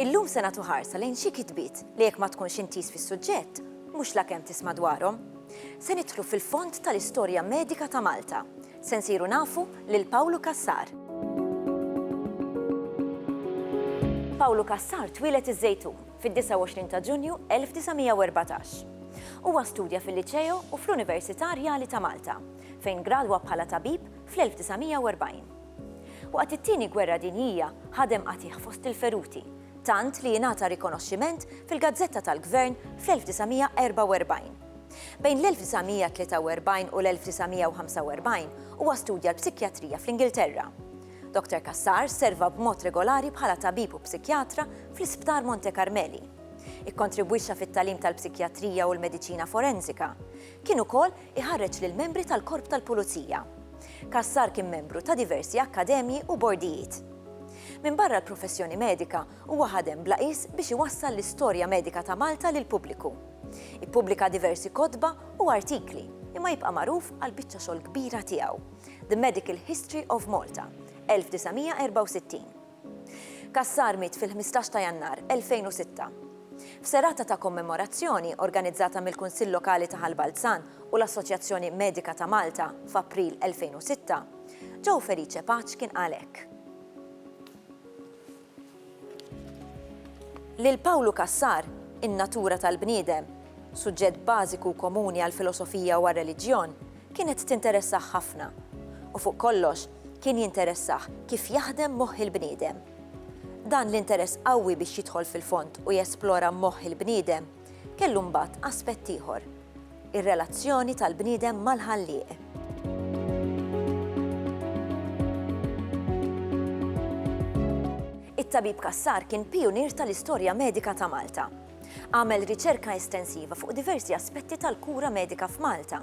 Illum se nagħtu ħarsa lejn xi kitbiet li jekk ma tkunx intiż fis-suġġett, mhux la kemm tisma' dwarhom. Se nidħlu fil-fond tal-istorja medika ta' Malta. Se nsiru nafu lil Pawlu Kassar. Pawlu Kassar twieled iż-Żejtun fid-29 ta' Ġunju 1914. Huwa studja fil-Liċeo u fl-Università Rjali ta' Malta, fejn gradwa bħala tabib fl-1940. Waqt it-Tieni Gwerra Dinjija ħadem qatigħ fost il-feruti, tant li ingħata rikonoxximent fil-gazzetta tal-Gvern fl-1944. Bejn l-1943 u l-1945 huwa studja l-psikjatrija fl-Ingilterra. Doctor Cassar serva b'mod regolari bħala tabib u psikjatra fl-Isptar Monte Carmeli. Ikkontribwixxa fit-tagħlim tal-psikjatrija u l-mediċina forensika. Kien ukoll iħarreġ lill-membri tal-Korp tal-Pulizija. Cassar kien membru ta' diversi akkademji u bordijiet. Minbarra l-professjoni medika, huwa ħadem bla qies biex iwassal l-istorja medika ta' Malta lill-pubbliku. Ippubblika diversi kotba u artikli, imma jibqa' magħruf għall-biċċa xogħol kbira tiegħu. The Medical History of Malta, 1964. Cassar miet fil-15 ta' Jannar 2006. F'serata ta' kommemorazzjoni organizzata mill-Kunsill Lokali ta' Ħal Balzan u l-Assoċjazzjoni Medika ta' Malta f'April 2006, Joe Felice Paċ kien qal hekk. Lil Pawlu Cassar, In-natura tal-bniedem, suġġett bażiku u komuni għall-filosofija u għar-reliġjon, kienet tinteressah ħafna, u fuq kollox kien jinteressah kif jaħdem moħħ il-bniedem. Dan l-interess qawwi biex jidħol fil-fond u jesplora moħħ il-bniedem, kellu mbagħad aspett ieħor, ir-relazzjoni tal-bniedem mal-Ħallieq. It-Tabib Cassar kien pijunier tal-istorja medika ta' Malta. Għamel riċerka estensiva fuq diversi aspetti tal-kura medika f'Malta.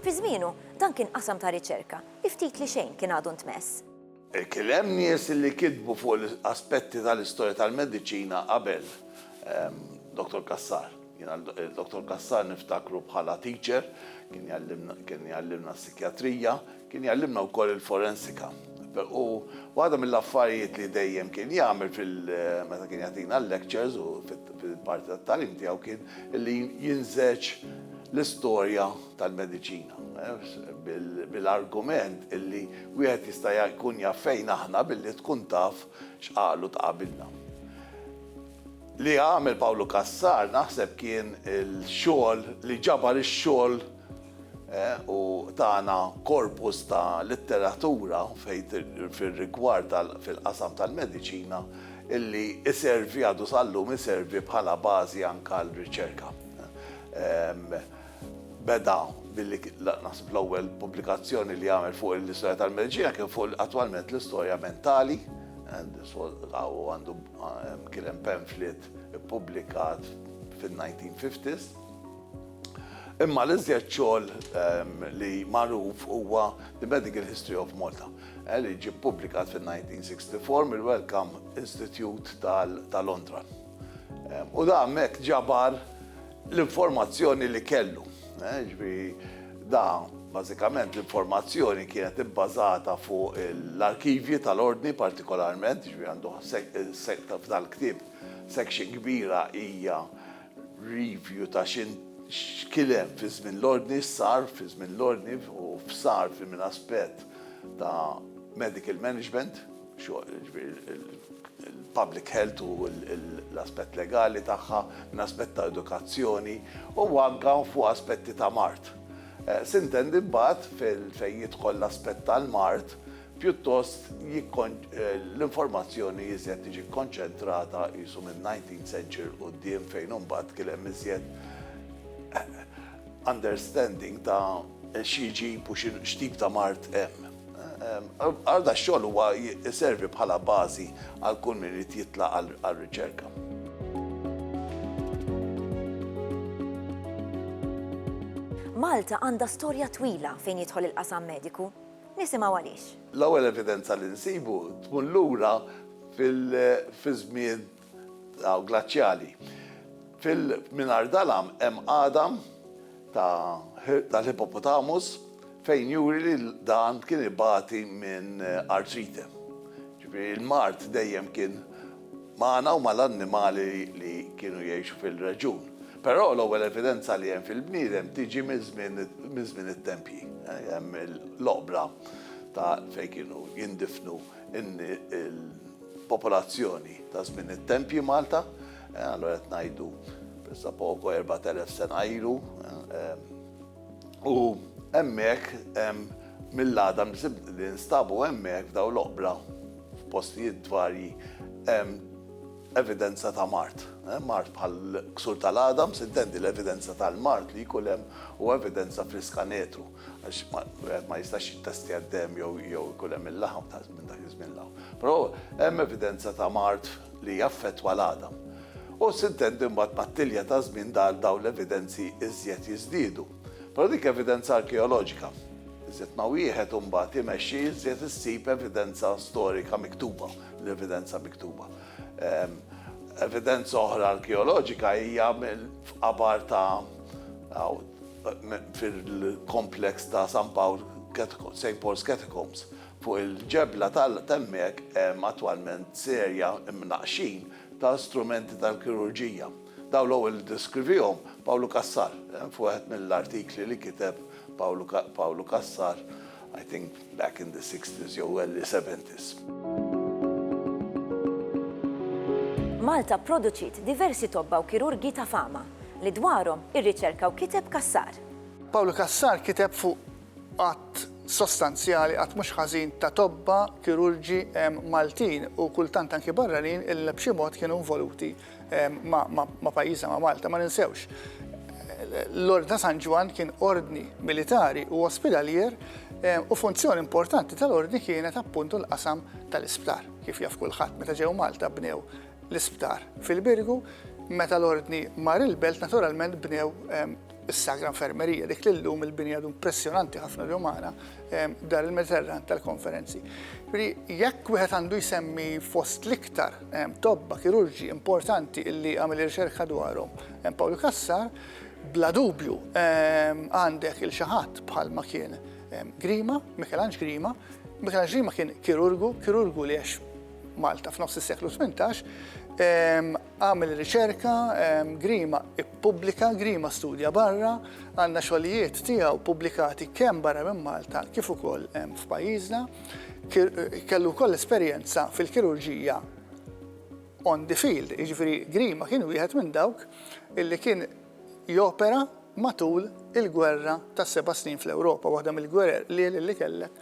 Fi żmienu, dan kien qasam ta' riċerka li ftit li xejn kien għadu ntmess. Kien hemm nies li kitbu fuq l-aspetti tal-istorja tal-mediċina qabel Dottor Cassar. Jiena lil Dottor Cassar niftakru bħala teacher, kien jgħallimna kien jgħallimna s-sikjatrija, kien jgħallimna wkoll il-forensika. U waħda mill-affarijiet li dejjem kien jagħmel fil meta kien jagħtina l-lectures u fil-parti tat-tagħlim tiegħu kien li jinżegħeġ l-istorja, tal-mediċina, bil-argument illi wieħed jista' jkun jaf fejn aħna billi tkun taf x'qalu ta' qabilna. Li għamel Pawlu Cassar naħseb kien il-xogħol li ġabar ix-xogħol u tana korpus ta' litteratura fejn fir-rigward fil-qasam tal-mediċina illi iservi għadu sal-lum iservi bħala bażi anke għal riċerka. Beda billi naħseb l-ewwel pubblikazzjoni li għamel fuq l-istorja tal-Merġija kien fuq attwalment l-istorja mentali, għandu kien hemm pamphlet ippubblikat fin-1950s. Imma l-iżjed xogħol li magħruf huwa The Medical History of Malta, li ġie ppubblikat fin-1964 mill-Wellcome Institute ta' Londra. U dan hemmhekk ġabar l-informazzjoni li kellu. Jiġifieri da bażikament l-informazzjoni kienet ibbażata fuq l-arkivji tal-Ordni partikolarment, jiġifieri għandu sekta f'dal-ktieb section kbira hija review ta' x'in x'kien hemm fi żmien l-Ordni, x'sar fi żmien l-Ordni u f'sar fi minn aspett ta' medical management. il-public health u l-aspett legali tagħha, minn aspett ta' edukazzjoni u anke fuq aspetti ta' mard. Sintendi mbagħad fejn jidħol l-aspett tal-mard, pjuttost l-informazzjoni iżjed tiġi kkonċentrata qisu min-nineteenth century 'l quddiem fejn imbagħad kien hemm iżjed understanding ta' x'jiġib u x'tip ta' mard hemm. Għal da xogħol huwa jservi bħala bażi għal kull min irid jitlaq għal riċerka. Malta għandha storja twila fejn jidħol il-qasam mediku. Nisimgħu għaliex. L-ewwel evidenza li nsibu tmur lura fiż-żmien Hawn glaċjali. Fil mingħajr dalam hemm għadam ta' tal-hippopotamus fejn juri li dan kien ibati minn artrite. Ġifieri l-mard dejjem kien magħna u mal-annimali li kienu jgħixu fil-reġjun. Però l-ewwel evidenza li hemm fil-bniedem tiġi minn żmien it-tempji. Hemm l-oqbra ta' fejn kienu jindifnu il-popolazzjoni ta' żmien it-tempji Malta, allura qed ngħidu pressa poco 4000 sena ilu. U hemmhekk mill-għadam li nstabu hemmhekk f'dawn l-oqbra f'postijiet varji hemm evidenza ta' mard. Mard bħal ksur tal-għadam, intendi l-evidenza tal-mard li jkun hemm u evidenza fl-iskanetu. Għax wieħed ma jistax jittestja d-demm jew ikun hemm il-laħam ta' minn dak iż-żmien 'l hawn. Però hemm evidenza ta' mard li jaffettwa l-għadam. U sintendi mbagħad mat-tilja ta' żmien dawn l-evidenzi iżjed jiżdiedu. Però dik evidenza arkeoloġika. Iżjed ma wieħed imbagħad imexxi iżjed issib evidenza storika miktuba, l-evidenza miktuba. Evidenza oħra arkeoloġika hija f'qabar ta' fil-kompleks ta' San Pawl, St. Paul's Catacombs, fuq il-ġebla t'hemmhekk hemm attwalment serja imnaqqxin ta' strumenti tal-kirurġija. Dawn l-ewwel iddeskrivihom Pawlu Cassar f'wieħed mill-artikli li kiteb Pawlu Cassar, I think, back in the sixties jew early seventies. Malta pproduċiet diversi tobba u kirurgi ta' fama, li dwarhom irriċerka u kiteb Cassar. Pawlu Cassar kiteb fuq għadd sostanzjali, għadd mhux ħażin ta' tobba, kirurgi Maltin u kultant anki barranin li b'xi mod kienu involuti ma' pajjiżna ma' Malta ma ninsewx. L-Ordni ta' San Ġwan kien ordni militari u ospidalier u funzjoni importanti tal-ordni kienet appuntu l-qasam tal-isptar. Kif jaf kulħadd meta ġew Malta bnew l-isptar fil-Birgu, meta l-ordni mar il-belt naturalment bnew Is-Sagra Infermerija, dik li llum il-binja impressjonanti ħafna li umana dar il-Mediterran tal-konferenzi. Jekk wieħed għandu jsemmi fost l-iktar tobba kirurġi importanti illi għamil riċerka dwarhom Pawlu Kassar, bla dubju għandek il-xaħat bħal ma kien Grima, Mikelanġ Grima, Mikelanġ Grima kien kirurgu, kirurgu li għex Malta f'nofs is-seklu 18, Agħmel riċerka, Grima ppubblika, Grima studja barra, għandna xogħlijiet tiegħu ppubblikati kemm barra minn Malta kif ukoll f'pajjiżna. Kellu wkoll esperjenza fil-kirurġija on the field, jiġifieri Grima kien wieħed minn dawk illi kien jopera matul il-Gwerra tas-Seba' Snin fl-Ewropa, waħda mill-gwerer lieli li kellek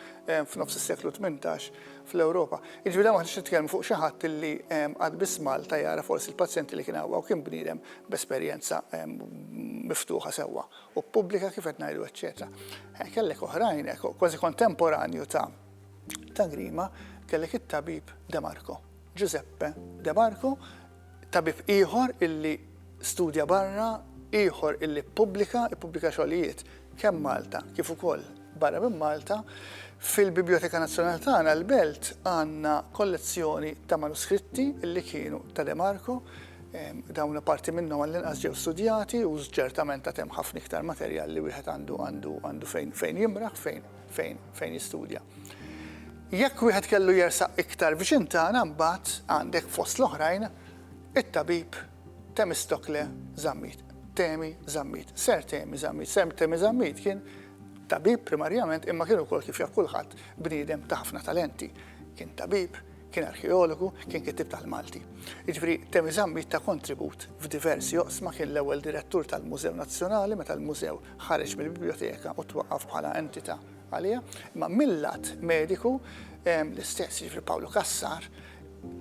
f'nofs is-seklu tmintax fl-Ewropa. Jiġifieri hawn m'aħniex nitkellmu fuq xi ħadd li qatt biss Malta jara forsi l-pazjenti li kien hawn, hawn kien bniedem b'esperjenza miftuħa sewwa u pubblika kif qed ngħidu eċċetera. Kellek oħrajn, kważi kontemporanju ta' ta' Grima, kellek it-tabib De Marco, Ġużeppe De Marco, Tabib ieħor illi studja barra, ieħor illi ppubblika, ippubblika xogħlijiet kemm Malta kif ukoll barra minn Malta, fil-Bibljoteka Nazzjonali tagħna l-Belt għandna kollezzjoni ta' manuskritti illi kienu ta' De Marco, dawn parti minnhom għall-inqas ġew studjati u ċertament għad hemm ħafna iktar materjal li wieħed għandu għandu għandu fejn fejn jimraħ fejn fejn fejn jistudja. Jekk wieħed kellu jersaq iktar viċin tagħna mbagħad għandek fost l-oħrajn it-tabib Temistokle Zammit. Temi Zammit, Ser Temi Zammit, Ser Temi Zammit kien tabib primarjament imma kien ukoll kif jaf kulħadd bniedem ta' ħafna talenti. Kien tabib, Kien arkeologu, kien kittieb tal-Malti. Jiġifieri Temi Zammit ta kontribut f'diversi oqsma, kien l-ewwel direttur tal-Mużew Nazzjonali meta l-mużew ħareġ mill-bibljoteka u twaqqaf bħala entità għaliha. Imma mil-lat mediku l-istess, jiġifieri Pawlu Cassar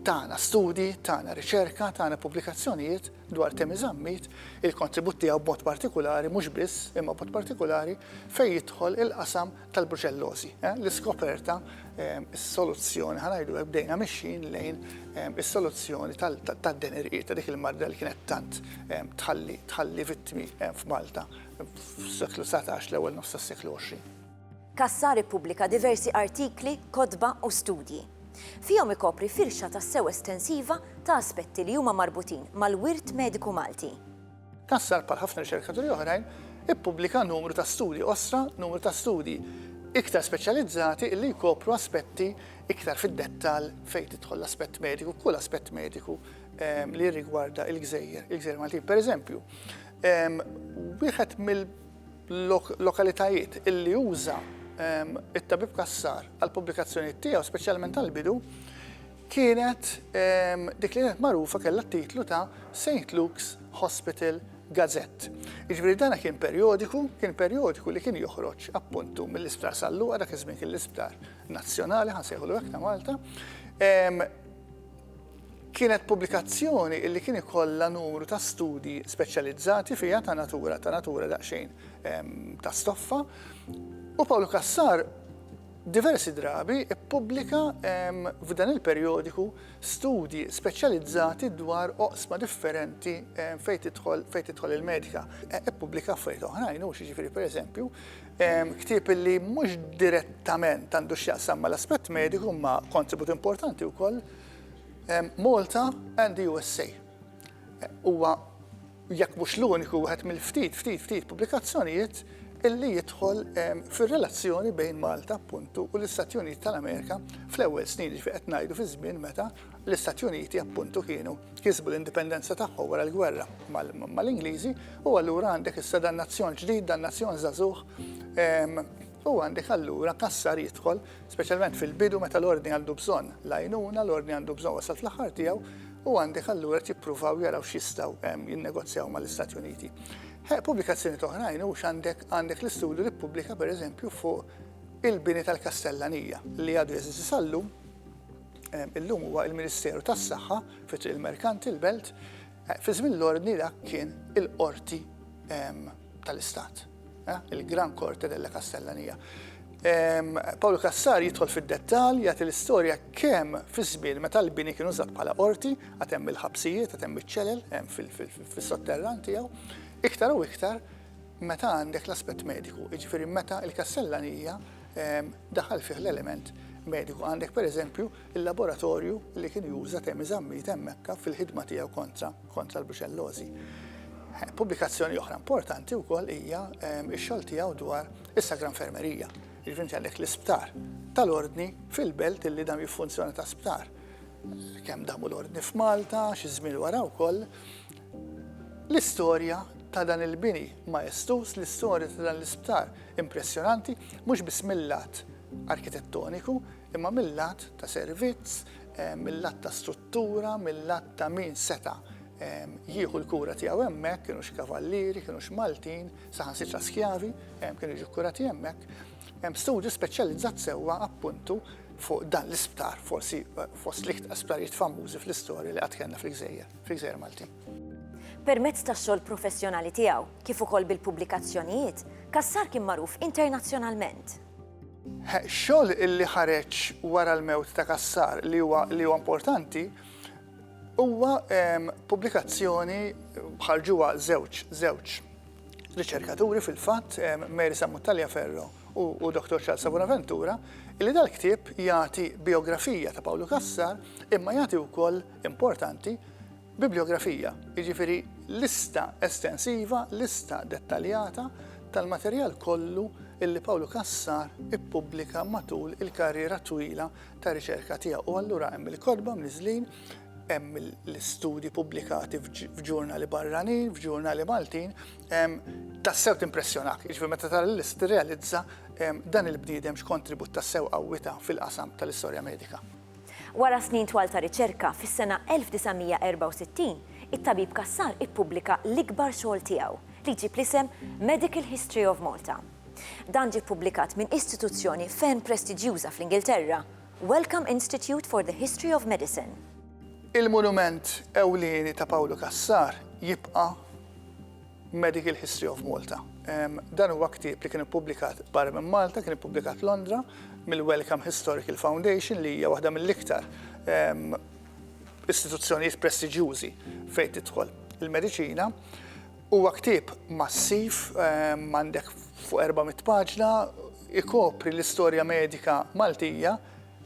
tana studji, tana riċerka, tana pubblikazzjonijiet dwar Temi Zammit, il-kontribut tiegħu b'mod partikulari mhux biss, imma b'mod partikulari fejn jidħol il-qasam tal-bruċellożi, l-iskoperta, is-soluzzjoni, ħa ngħidu hekk, bdejna mixjin lejn is-soluzzjoni tad-denerijiet ta' dik il-marda li kienet tant tħalli vittmi f'Malta fis-seklu 19 l-ewwel nofs tas-seklu 20. Cassar ippubblika diversi artikli, kotba u studji. Fihom ikopri firxa tassew estensiva ta' aspetti li huma marbutin mal-wirt mediku Malti. Cassar, bħal ħafna riċerkaturi oħrajn, ippubblika numru ta' studji qosra, numru ta' studji iktar speċjalizzati li jkopru aspetti iktar fid-dettall fejn tidħol l-aspett mediku, kull aspett mediku ehm, li jirrigwarda il-gżejjer, il-gżejjer Maltin. Per eżempju, ehm, wieħed mill-lokalitajiet illi uża ehm, it-tabib kassar għal-pubblikazzjoni tiegħu, speċjalment għal-bidu, kienet dik li kienet magħrufa kellha t-titlu ta' Saint Luke's Hospital Gazette. Jiġifieri dana kien perjodiku, kien perjodiku li kien joħroġ appuntu mill-Isptar San Luqa dak iż-żmien kien l-Isptar Nazzjonali ħansejħulu hekk ta' Malta. Kienet pubblikazzjoni li kien ikollha numru ta' studji speċjalizzati fiha ta' natura ta' natura daqsxejn ta' stoffa u Pawlu Kassar Diversi drabi ppubblika f'dan il-perjodiku studji speċjalizzati dwar oqsma differenti fejn tidħol fejn tidħol il-medika. Ppubblika affarijiet oħrajn hux, jiġifieri pereżempju, ktieb li mhux direttament għandu x'jaqsam mal-aspett mediku imma kontribut importanti wkoll, Malta and the USA. Huwa jekk mhux l-uniku, wieħed mill-ftit, ftit, ftit pubblikazzjonijiet illi jidħol ehm, fir-relazzjoni bejn Malta appuntu u l-Istati Uniti tal-Amerika fl-ewwel snin ġifi qed ngħidu fi żmien meta l-Istati Uniti appuntu kienu kisbu l-indipendenza tagħhom wara l-gwerra mal-Ingliżi u allura għandek issa dan nazzjon ġdid, dan nazzjon żagħżugħ ehm, u għandek allura kassar jidħol, speċjalment fil-bidu meta l-ordni għandu bżonn lajnuna, l-ordni għandu bżonn wasal fl-aħħar tiegħu, u għandek allura qed jippruvaw jaraw x'jistgħu jinnegozjaw mal-Istati Uniti. Pubblikazzjoni toħrajn hux għandek għandek l-istudju li ppubblika pereżempju fuq il-bini tal-Kastellanija li għadu jeżisti sallum illum huwa il-Ministeru tas-Saħħa fit il-Merkant il-Belt fi żmien l-ordni dak kien il-qorti tal-Istat. Eh, Il-Gran Corte della Castellanija. Paolo Cassar jidħol fid-dettal jagħti l-istorja kemm fi żmien meta l-bini kienu żatt bħala qorti, għad hemm il-ħabsijiet, għad hemm iċ-ċelel, hemm fis-sotterran tiegħu, iktar u iktar meta għandek l-aspett mediku, jiġifieri meta l-kassellanija daħal fih l-element mediku. Għandek pereżempju il-laboratorju li kien juża Temi Zammit hemm Mekka fil-ħidma tiegħu kontra kontra l-bruċellożi. Pubblikazzjoni oħra importanti wkoll hija x-xogħol tiegħu dwar is-Sagra Infermerija. Jiġifieri inti għandek l-isptar tal-Ordni fil-belt illi dam jiffunzjona ta' sptar. Kemm damu l-Ordni f'Malta, xi żmien wara wkoll. L-istorja ta' dan il-bini majestus, l-istorja ta' dan l-isptar impressjonanti, mhux biss mill-lat arkitettoniku, Imma mil-lat ta' servizz, mil-lat ta' struttura, mil-lat ta' min seta' jieħu l-kura tiegħu hemmhekk, kienux kavallieri, kienux Maltin, saħansitra skjavi, kienu jiġu kkurati hemmhekk, hemm studju speċjalizzat sewwa appuntu fuq dan l-isptar, forsi fost l-iktar sptarijiet famużi fl-istorja li qatt kellna fil-gżejjer, fil-gżejjer Maltin. Permezz tax-xogħol professjonali tiegħu, kif ukoll bil-pubblikazzjonijiet, Cassar kien magħruf internazzjonalment. Xogħol li ħareġ wara l-mewt ta' Cassar li huwa li huwa importanti huwa pubblikazzjoni ħarġuha żewġ żewġ riċerkaturi fil-fatt, Mary Sammut Taliaferro u u Dottor Charles Abonaventura, illi dal-ktieb jagħti bijografija ta' Pawlu Cassar imma jagħti wkoll, importanti, Bibliografija, jiġifieri lista estensiva, lista dettaljata, tal-materjal kollu li Pawlu Cassar ippubblika matul il-karriera twila ta' riċerka tiegħu. U allura hemm il-kotba mniżżlin, hemm l-istudji pubblikati f'ġurnali barranin, f'ġurnali Maltin, tassew timpressjonak, jiġifieri meta tara l-lista tirrealizza dan il-bniedem x'kontribut tassew qawwi ta fil-qasam tal-istorja medika. Wara snin twal ta' riċerka, fis-sena 1964, it-tabib Cassar ippubblika l-ikbar xogħol tiegħu, li jġib l-isem Medical History of Malta. Dan ġie ppubblikat minn istituzzjoni ferm prestiġjuża fl-Ingilterra, Wellcome Institute for the History of Medicine. Il-monument ewlieni ta' Pawlu Cassar jibqa'. Medical History of Malta. Dan huwa ktieb li kien ippubblikat barra minn Malta, kien ippubblikat Londra mill-Wellcome Historical Foundation li hija waħda mill-iktar istituzzjonijiet prestiġjużi fejn tidħol il-mediċina. Huwa ktieb massiv, għandek fuq 400 paġna, ikopri l-istorja medika Maltija,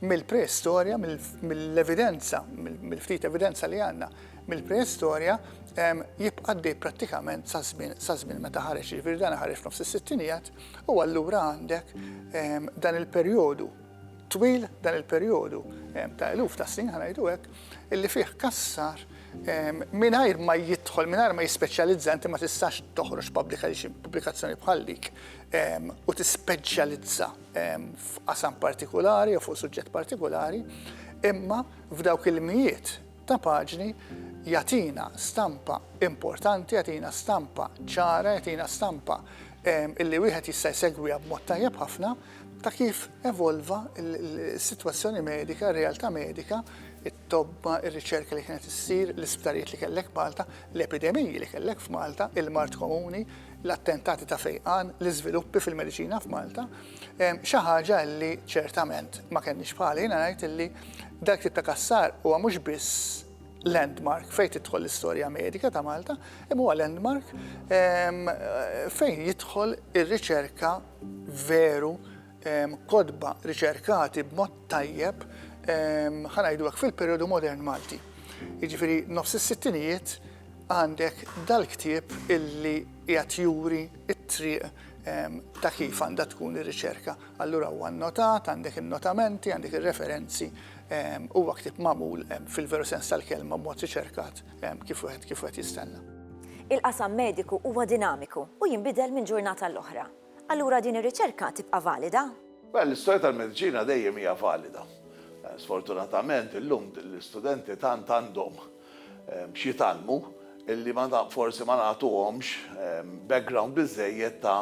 Mill-preistorja, mill-evidenza, mill-ftit evidenza li għandna, mill-preistorja jibqa' għaddej prattikament sa żmien meta ħareġ, jiġifieri dan ħareġ f'nofs is-sittinijiet u allura għandek dan il-perjodu twil, dan il-perjodu ta' eluf ta' snin ħa ngħidu hekk, illi fih Cassar mingħajr ma jidħol, mingħajr ma jispeċjalizza, inti ma tistax toħroġ pubblikazzjoni bħal dik u tispeċjalizza f'qasam partikulari jew fuq suġġett partikulari, imma f'dawk il-mijiet ta' paġni jatina stampa importanti, jatina stampa ċara, jatina stampa illi wieħed jista' jsegwiha b'mod tajjeb ħafna ta' kif evolva s-sitwazzjoni medika, r-realtà medika, tobba, ir-riċerka li kienet issir, l-isptarijiet li kellek f'Malta, l-epidemiji li kellek f'Malta, il-mard komuni, l-attentati ta' fejqan, l-iżviluppi fil-mediċina f'Malta, xi ħaġa li ċertament ma kellniex bħalha. Jiena ngħid illi dak it-tip ta' kassar huwa mhux biss landmark fejn tidħol l-istorja medika ta' Malta, imma huwa landmark fejn jidħol ir-riċerka veru kotba riċerkati b'mod tajjeb, ħa ngħidu hekk, fil-perjodu modern Malti. Jiġifieri nofs is-sittinijiet għandek dal-ktieb illi qiegħed juri t-triq ta' kif għandha tkun ir-riċerka. Allura huwa nnotat, għandek in-notamenti, għandek ir-referenzi, huwa ktieb magħmul fil-veru sens tal-kelma b'mod riċerkat kif wieħed jistenna. Il-qasam mediku huwa dinamiku u jinbidel minn ġurnata għall-oħra. Allura din ir-riċerka tibqa' valida? Mela l-istorja tal-mediċina dejjem hija valida. Sfortunatament illum l-istudenti tant għandhom x'jitgħallmu illi ma forsi ma nagħtuhomx background biżżejjed ta'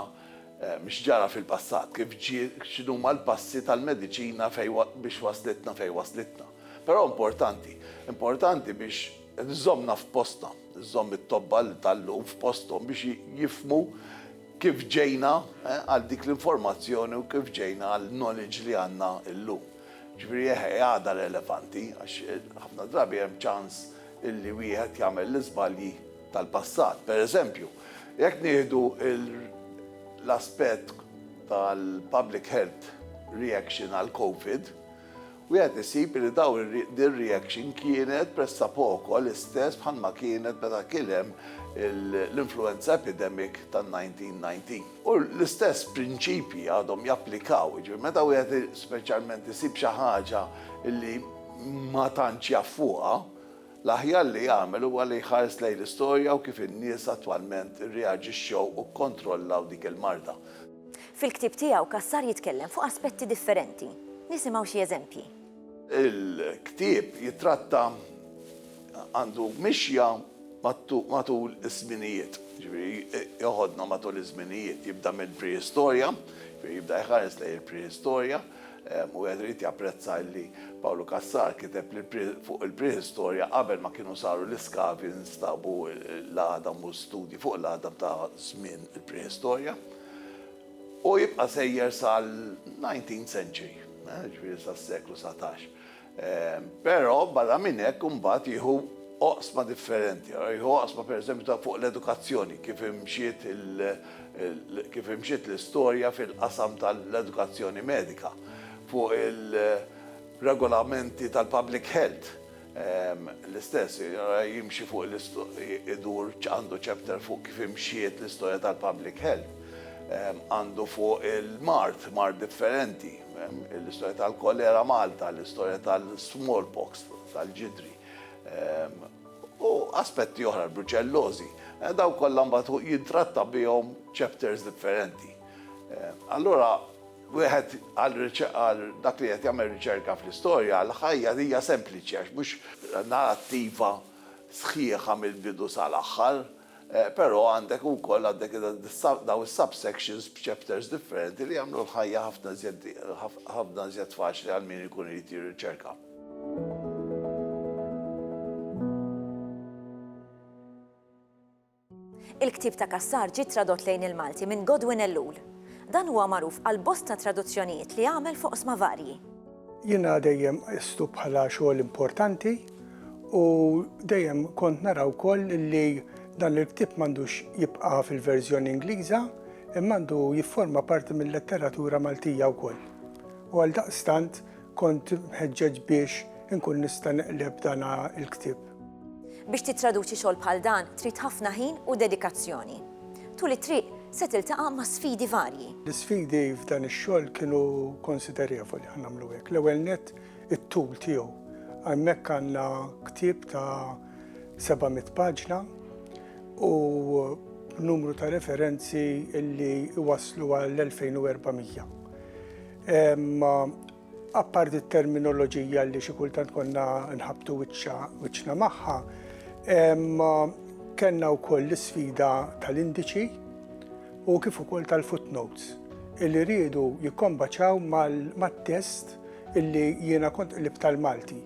x'ġara fil-passat, kif ġie, x'inhuma l-passi tal-mediċina fejn biex waslitna fejn waslitna. Però importanti. Importanti biex żżommna f'postna, żżomm it-tobba tal-lum f'posthom biex jifhmu Kif ġejna għal dik l-informazzjoni u kif ġejna għall-knowledge li għandna llum. Ġifieri eħe, hi għadha relevanti għax ħafna drabi hemm ċans illi wieħed jagħmel l-iżbalji tal-passat. Per eżempju, jekk nieħdu l-aspett tal-public health reaction għall-Covid, Wieħed isib li dawn din ir-reaction kienet pressapoko l-istess bħalma kienet meta kien hemm l-influenza epidemic tan-1919. U l-istess prinċipji għadhom japplikaw, jiġifieri meta wieħed speċjalment isib xi ħaġa li ma tantx jaf fuqha, L-aħjar li jagħmel huwa li jħares lejn l-istorja u kif in-nies attwalment irreaġixxew u kkontrollaw dik il-marda. Fil-ktieb tiegħu, Cassar jitkellem fuq aspetti differenti. Nisimgħu xi eżempji. Il-ktieb jittratta għandu mixja matul iż-żminijiet, jiġifieri jeħodna matul iż-żminijiet, jibda mill-prehistorja, jiġifieri jibda jħares lejn il-prehistorja, Wieħed irid japprezza illi Pawlu Cassar kiteb li fuq il-prehistorja qabel ma kienu saru l-iskavi nstabu l-għadam u studji fuq l-għadam ta' żmien il-prehistorja. U jibqa' sejjer sal-19th century, ġifieri sas-seklu 19. Però barra minn hekk imbagħad jieħu oqsma differenti. Ara jieħu oqsma pereżempju ta' fuq l-edukazzjoni, kif imxiet kif imxiet l-istorja fil-qasam tal-edukazzjoni medika, fuq il-regolamenti tal-public health l-istess, ara jimxi fuq idur għandu chapter fuq kif imxiet l-istorja tal-public health, għandu fuq il-mard, mard differenti. Hemm l-istorja tal-kolera Malta, l-istorja tal-smallpox, tal-ġidri, ehm, u aspetti oħra l-bruċellożi. Eh, daw kollha mbagħad jintratta bihom chapters differenti. Eh, allura wieħed għal dak li qed jagħmel riċerka fl-istorja, l-ħajja hija sempliċi għax mhux narrattiva sħiħa mill-bidu sal-aħħar. Però għandek ukoll għandek dawn is-subsections b'chapters differenti li jagħmlu l-ħajja ħafna iżjed ħafna iżjed faċli għal min ikun irid jirriċerka. Il-ktieb ta' Cassar ġie tradott lejn il-Malti minn Godwin Ellul. Dan huwa magħruf għal bosta traduzzjonijiet li għamel f'oqsma varji. Jiena dejjem qistu bħala xogħol importanti u dejjem kont nara wkoll li dan il-ktieb m'għandux jibqa' fil-verżjoni Ingliża imma għandu jifforma parti mil-letteratura Maltija wkoll. U għaldaqstant kont mħeġġeġ biex inkun nista' neqleb dan il-ktieb. Biex tittraduċi xogħol bħal dan trid ħafna ħin u dedikazzjoni. Tul it-triq se tiltaqa' ma' sfidi varji. L-isfidi f'dan ix-xogħol kienu konsiderevoli għal nagħmlu hekk. L-ewwel nett it-tul tiegħu. Hemmhekk għandna ktieb ta' 700 paġna u numru ta' referenzi li jwasslu għal 2400. Apparti t-terminoloġija li xi kultant konna nħabtu wiċċna magħha, kellna wkoll l-isfida tal-indiċi u kif ukoll tal-footnotes illi riedu jikkombaċaw mat-test illi jiena kont qlibt tal-Malti.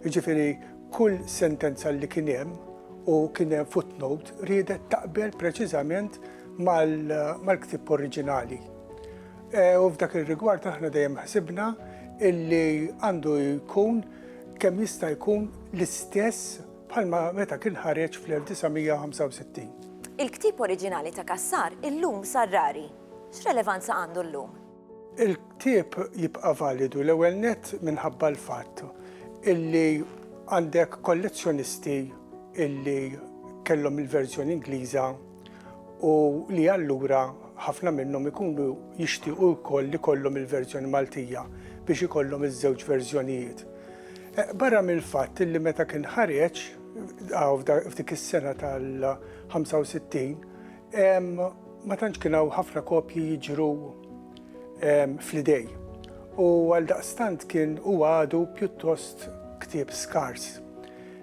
Jiġifieri kull sentenza li kien hemm u kien hemm footnote riedet taqbel preċiżament mal-ktieb oriġinali. U f'dak ir-rigward aħna dejjem ħsibna illi għandu jkun kemm jista' jkun l-istess bħalma meta kien ħareġ fl-1965. Il-ktieb oriġinali ta' Cassar illum sar rari. X'relevanza għandu llum? Il-ktieb jibqa' validu l-ewwel nett minħabba l-fatt illi għandek kollezzjonisti illi kellhom il-verżjoni Ingliża. u li allura ħafna minnhom ikunu jixtiequ wkoll li jkollhom il-verżjoni Maltija biex ikollhom iż-żewġ verżjonijiet. Barra mill-fatt li meta kien ħareġ f'dik is-sena tal-65 ma tantx kien hawn ħafna kopji jiġru fl-idejn u għaldaqstant kien huwa għadu pjuttost ktieb skars.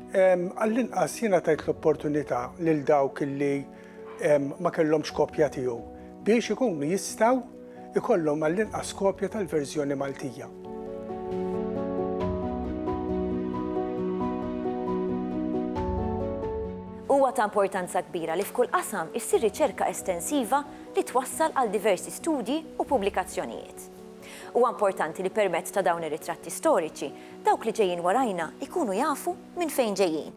Għall-inqas jiena tajt l-opportunità lil dawk li ma kellhomx kopja tiegħu biex ikunu jistgħu jkollhom għall-inqas kopja tal-verżjoni Maltija. Huwa ta' importanza kbira li f'kull qasam issir riċerka estensiva li twassal għal diversi studji u pubblikazzjonijiet. Huwa importanti li permezz ta' dawn ir-ritratti storiċi, dawk li ġejjin warajna jkunu jafu minn fejn ġejjin.